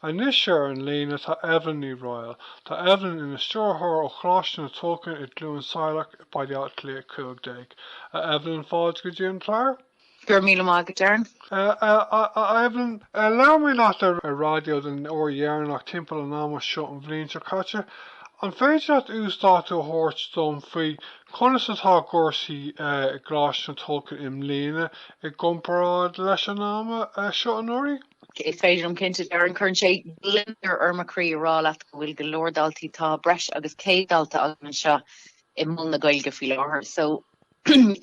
Anois ar an líne tá Evelyn Ní Raghaill. Tá Evelyn ina stiúrthóir ó Choláiste na Tulchann i gCluain Saileach i Baile Átha Cliath 15. A Evelyn, fáilte go dtí an clár. Go raibh míle maith agat, Darren. A Evelyn, labhair mé leat ar an raidió den uair dheireanach timpeall an ama seo an bhliain seo caite. An féidir leat uasdátú a thabhairt dom faoi conas atá gcúrsaí i gColáiste na Tulchann i mbliana i gcomparáid leis an am seo anuraidh? Is féidir liom cinnte Darren cuireann sé gliondar ar mo chroí a rá leat go bhfuil go leor daltaí tá breis agus 100 dalta againn anseo i Mol na Gaeilge faoi láthair so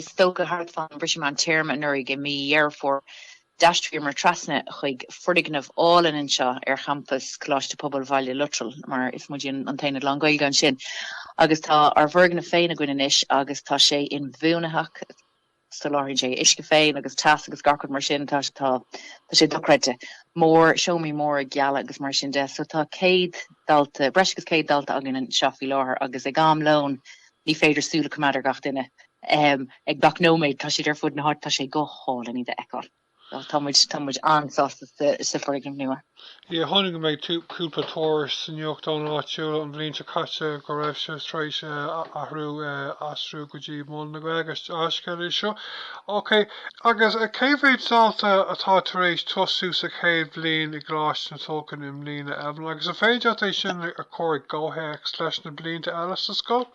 is dócha thart fán briseadh meán téarma anuraidh i mí Dheireadh Fómhair d'aistríomar trasna chuig foirgneamh álainn anseo ar champas Coláiste Pobail Bhaile Lotrail mar is muidne an t-aonad lán Gaeilge ansin agus tá ár bhfoirgneamh féin againn anois agus tá sé inbhuanaitheach Soláthraíonn sé uisce féin agus teas agus gach rud mar sin. Tá tá tá sé dochreidte. Mór seomraí móra geala agus mar sin de. So tá 100 dalta breis agus 100 dalta againn anseo faoi láthair agus ag am lóin ní féidir súil a coimeád ar gach duine. Em ag gach nóiméad tá siad ar fud na háite. Tá sé go hálainn iad a fheiceáil. Tá muid an-sásta sa foirgneamh nua. Yeah, chonaic mé cúpla tuairisc sa nuachtán áitiúil an bhliain seo caite go raibh sibh tar éis athrú, aistriú go dtí Mol na Gaeilge, dea-scéal é seo. Ok, agus cé mhéad dalta atá tar éis tosú sa chéad bhliain i gColáiste na Tulchann i mbliana, Evelyn? Agus an féidir leat é sin a chur i gcomhthéacs leis na blianta eile sa scoil?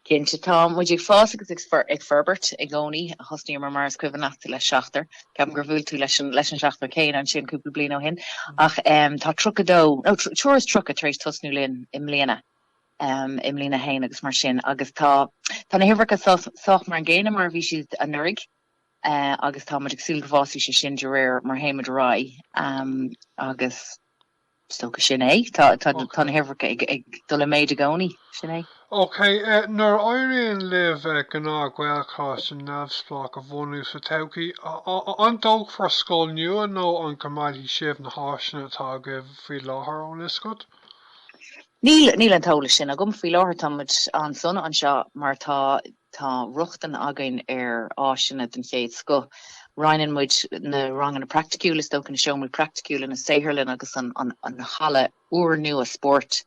Cinnte, tá muid ag fás agus ag forbairt i gcónaí. Thosnaíomar, mar is cuimhin leat, le seachtar. Ceapaim gur bhuail tú leis an seachtar céanna ansin cúpla bliain ó shin. Ach tá tríocha dó, nó triúr is tríocha tar éis tosnú linn i mbliana, i mbliain a haon agus mar sin. Agus tá tá na huimhreacha sách mar an gcéanna mar a bhí siad anuraidh. Agus tá muid ag súil go bhfásfaidh sé sin de réir mar a théimid ar aghaidh. Agus. Is dócha sin é. Tá na huimhreacha ag dul i méid i gcónaí, sin é. Ok, nuair a éiríonn libh gnáth-Ghaelcholáiste neamhspleách a bhunú sa todhchaí, an dtógfar scoil nua nó an gcoimeádfaidh sibh na háiseanna atá agaibh faoi láthair ón oscailt? Níl an t-eolas sin agam. Faoi láthair táimid an-sona anseo mar tá Tá rochtain againn ar áiseanna den chéad scoth. Roinneann muid na ranganna praiticiúla, is dócha, na seomraí praiticiúla, na saotharlanna agus an halla úrnua spóirt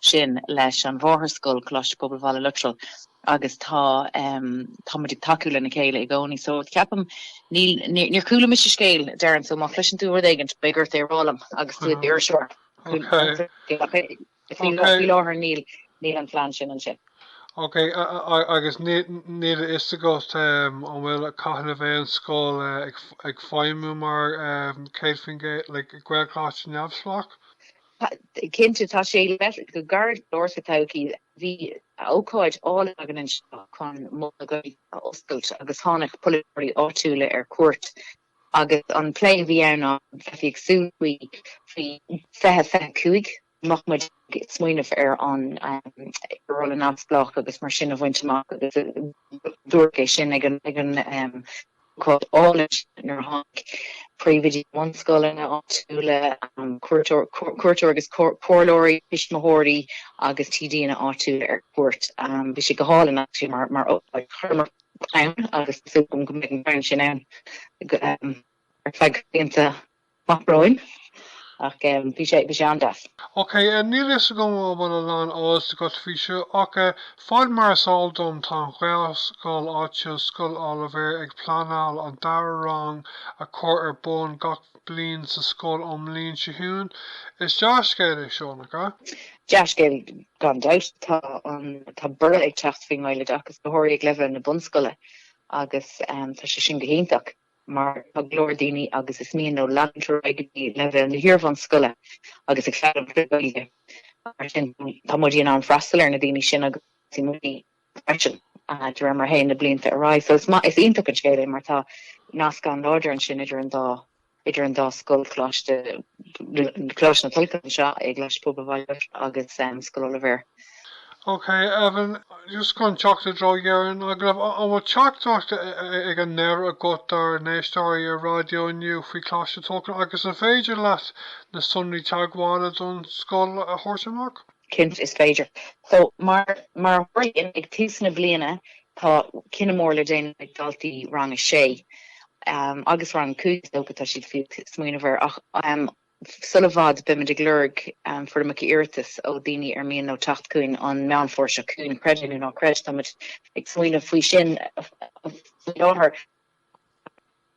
sin leis an mháthairscoil, Coláiste Pobail Bhaile Lotrail, agus tá tá muid ag tacú lena chéile i gcónaí. So, ceapaim, níl, níor chuala mise scéal, Darren, so má chloiseann tú rud éigin, beidh ort é a rá liom agus tú i d'iriseoir. Faoi láthair níl an phlean sin ansin. Ok, agus níl a fhios agat an bhfuil cathain a bheidh an scoil ag feidhmiú mar 100% Gaelcholáiste neamhspleách? Cinnte, tá sé le teacht go gairid go leor sa todhchaí, bhí ócáid álainn againn anseo chun Mol na Gaeilge a oscailt agus tháinig polaiteoirí áitiúla ar cuairt Agus an plé a bhí ann ná go mbeifí ag súil faoi 2025, mbeadh muid ag smaoineamh ar an rolla neamhspleách agus mar sin a bhaint amach agus dúradh é sin ag an ócáid álainn sin nuair a tháinig príomhoidí na mbunscoileanna áitiúla, cuairteoirí agus comhairleoirí, tuismitheoirí agus TDanna áitiúla ar cuairt. Bhí sé go hálainn, actually, mar ócáid. Chuireamar ann agus tá súil agam go mbeidh an crann sin ann ar feadh blianta amach romhainn ach bhí sé an-deas. Ok, níl fhios agam an bhfuil a lán eolas agat faoi seo ach ar fad mar is eol dom tá an Ghaelscoil áitiúil Scoil Oilibhéir ag pleanáil an dara rang a chur ar bun gach bliain sa scoil ón mbliain seo chugainn. Is dea-scéal é seo, nach ea? Dea-scéal Gan dabht, tá borradh ag teacht faoin nGaeloideachas, go háirithe ag leibhéal na bunscoile, agus tá sé sin go hiontach, mar tá go leor daoine agus is mian leo leanúint ar aghaidh go dtí leibhéal na hiarbhunscoile agus ag foghlaim trí Ghaeilge, mar sin tá muid in ann freastal ar na daoine sin agus muid freisin de réir mar a théann na blianta ar aghaidh. So is maith, is iontach an scéal é mar tá nasc an-láidir ansin idir an dá, idir an dá scoil, Coláiste, Coláiste na Tulchann anseo i gColáiste Pobail Bhaile Lotrail agus Scoil Oilibhéir. Ok, Evan, just chun teacht i dtreo dheireadh an agallaimh, an bhfuil teachtaireacht ag an ndeireadh agat dár n-éisteoirí ar raidió inniu faoi Choláiste na Tulchann agus an féidir leat na sonraí teagmhála don scoil a thabhairt amach? Cinnte is féidir. So, mar a tharlaíonn, ag tús na bliana tá cinneadh mór le déanamh ag daltaí rang a sé agus rang a cúig, is dócha, tá siad fiú ag smaoineamh air. Ach sula bhfad beimid ag lorg foirmeacha iarratais ó daoine ar mian leo teacht chugainn an Meán Fómhair seo chugainn, creid é nó ná creid, táimid ag smaoineamh faoi sin faoi láthair.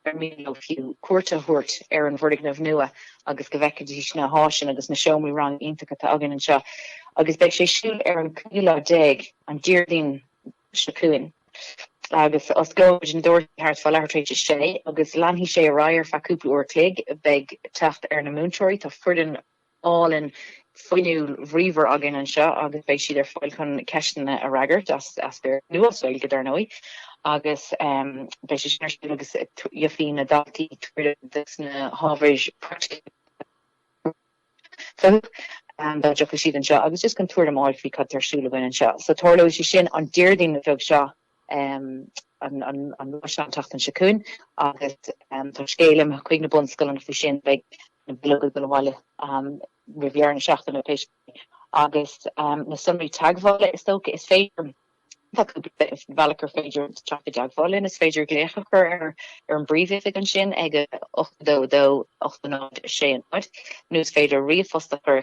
ar mian leo fiú cuairt a thabhairt ar an bhfoirgneamh nua agus go bhfeicfidís na háiseanna agus na seomraí ranga iontacha atá againn anseo agus beidh sé ar siúl ar an 5ú lá déag, an Diardaoin seo chugainn. Agus osclóidh muid na doirse thart fá leathuair tar éis a sé agus leanfaidh sé ar aghaidh ar feadh cúpla uair a chloig. Beidh teacht ar na múinteoirí, tá foireann. álainn fhuinniúil bhríomhar againn anseo agus beidh siad ar fáil chun ceisteanna a fhreagairt as Béarla nó as Gaeilge, dar ndóigh, agus beidh sé sin ar siúl agus gheobhaidh na daltaí tuairim de sna hábhair praiticiúla fúthu dá dtiocfaidh siad anseo agus just chun tuairim a fháil faoi cad tá ar siúl againn anseo. So tarlóidh sé sin an Déardaoin bheag seo. an lá san an tseachtain seo chugainn agus tá scéal imithe chuig na bunscoileanna faoi sin, beidh na bileoga ag dul abhaile roimh dheireadh na seachtaine pé scéal. Agus na sonraí teagmhála is dócha is féidir, tá cúpla bealach gur féidir teacht i dteagmháil linn, is féidir glaoch a chur ar an bpríomhoifig ansin ag 82 2 80 6 0 nó is féidir ríomhphost a chur